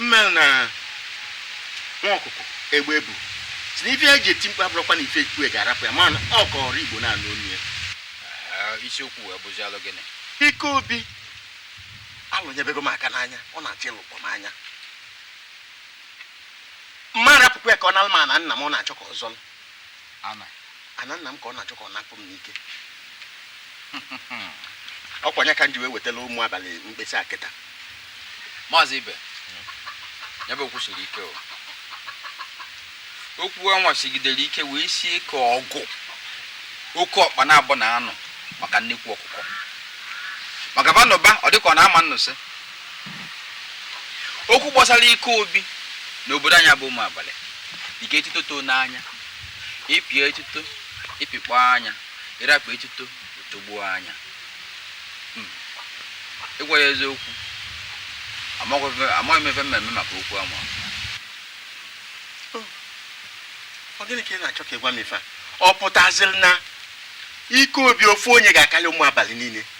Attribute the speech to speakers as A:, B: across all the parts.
A: mmelụ na nwa ọkụkọ egbe bu sị na ife ya ji eti mkpu abụrọkwa na ife kpụ ya ga-arapụ ya mana ọ ka ọra igbo na-anụ onu ya ah,
B: isiokwu wee bụzi alụ gịnị ike
A: obi alụnyebego m aka n'anya ọ na-achọ ịlụkpọ m anya m ma rapụkwa ya ka ọ nalụ m ana nna m ọ na-achọ ka ọ zọlụ ana ana nna m ka ọ na-achọ ka ọ napụ m n'ike ọkwa nya ka m ji wee wetala ụmụ abalị mkpesa a kịta maazị
B: ibe ya bụ okwu siri ike o okwu anwa sigidere ike wee sie ka ọgụ oke ọkpa naabọ na-anụ maka nnekwu ọkụkọ maka ba nụba ọ dịka ọ na a ma nnụsị okwu gbasara ike obi na obodo anyị bụ ụmụ abalị dịka etuto too n'anya ị pịa etuto ị pịkpọ anya ị rapụ etuto o togbuo anya hmm. ịgwa gị eziokwu amaghị m ife m me-eme maka okwu
A: anwa oh. ọ gịnị ka ị na-achọ ka ị gwa m ife a ọ pụtaziri na ike obi ofu onye ga-akarị ụmụ abalị niile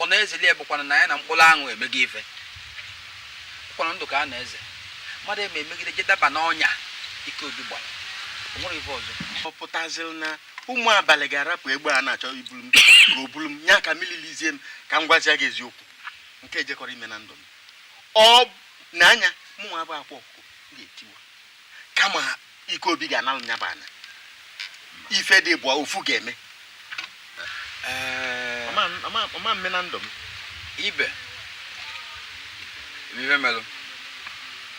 B: ọ na-ezeli ya bụkwana na ya na mkpụrụ aṅụ emego ife kwa na ndụ ka a na-eze mmadụ eme emegide je daba n'ọnya ike obi gbara o nwere ife ọzọ ọ pụtaziri na
A: ụmụ abalị ga-arapụ egbe a na-achọ ibulu m ka o bulu m ya ka mililizie m ka m gwazia gị eziokwu nke a ejekọrọ ime na ndụ m ọ na anya mụnwa bụ akwa ọkụkọ ga-etiwa kama ike obi ga-analụ nya bụ ana ife dị ịbụa ofu ga-eme ọ ma mme na ndụ m ibe
B: ife melụ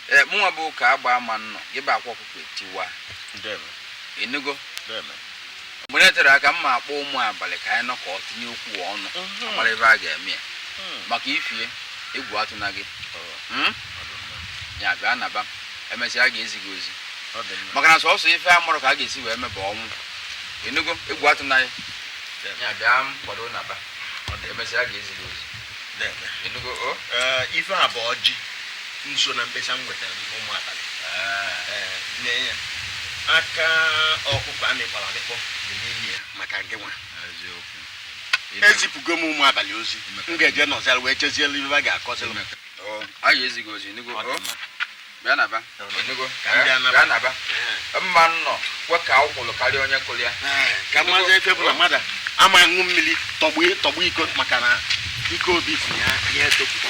B: ee mụnwa bụ ka agba ama nnọ gị bụ akwa ọkụkọ etiwa ịnụgo mgbe na-eterọ aka m ma-akpọ ụmụ abalị ka anyị nọkọ tinye okwu ọnụ mhm. a mara ife a ga-eme ya mhm. maka ifi ya egwu atụna gị mhm. ya bịa naba emesịa a ga-ezi gị ozi maka na sọsọ ife a marọ ka a ga-esi wee mee bụ ọnwụ ịnụgo egwu atụna gị ya bịa kwado naba emesịa a ga-ezi gị ozi ịnụgo o ife
A: a bụ ọjị nso na mkpesa m wetara ụmụ abalị nye ya aka ọkụkọ a mịkpọrọ amịkpọ dị n'ime ya maka gị nwa ezipụgo m ụmụ abalị ozi m ga-eje nọzara wee chezielu ife a ga-akọziri m a ga-ezi
B: gị ozi nụgo bịa naba nụgo bịa naba m ma nnọ kwe ka ọkwụlụ karịa onye kụrụ ya kamazi ife
A: bụ na mmadụ ama ṅụ mmiri tọgbọ iko maka na ike obi sị ya ya etopụta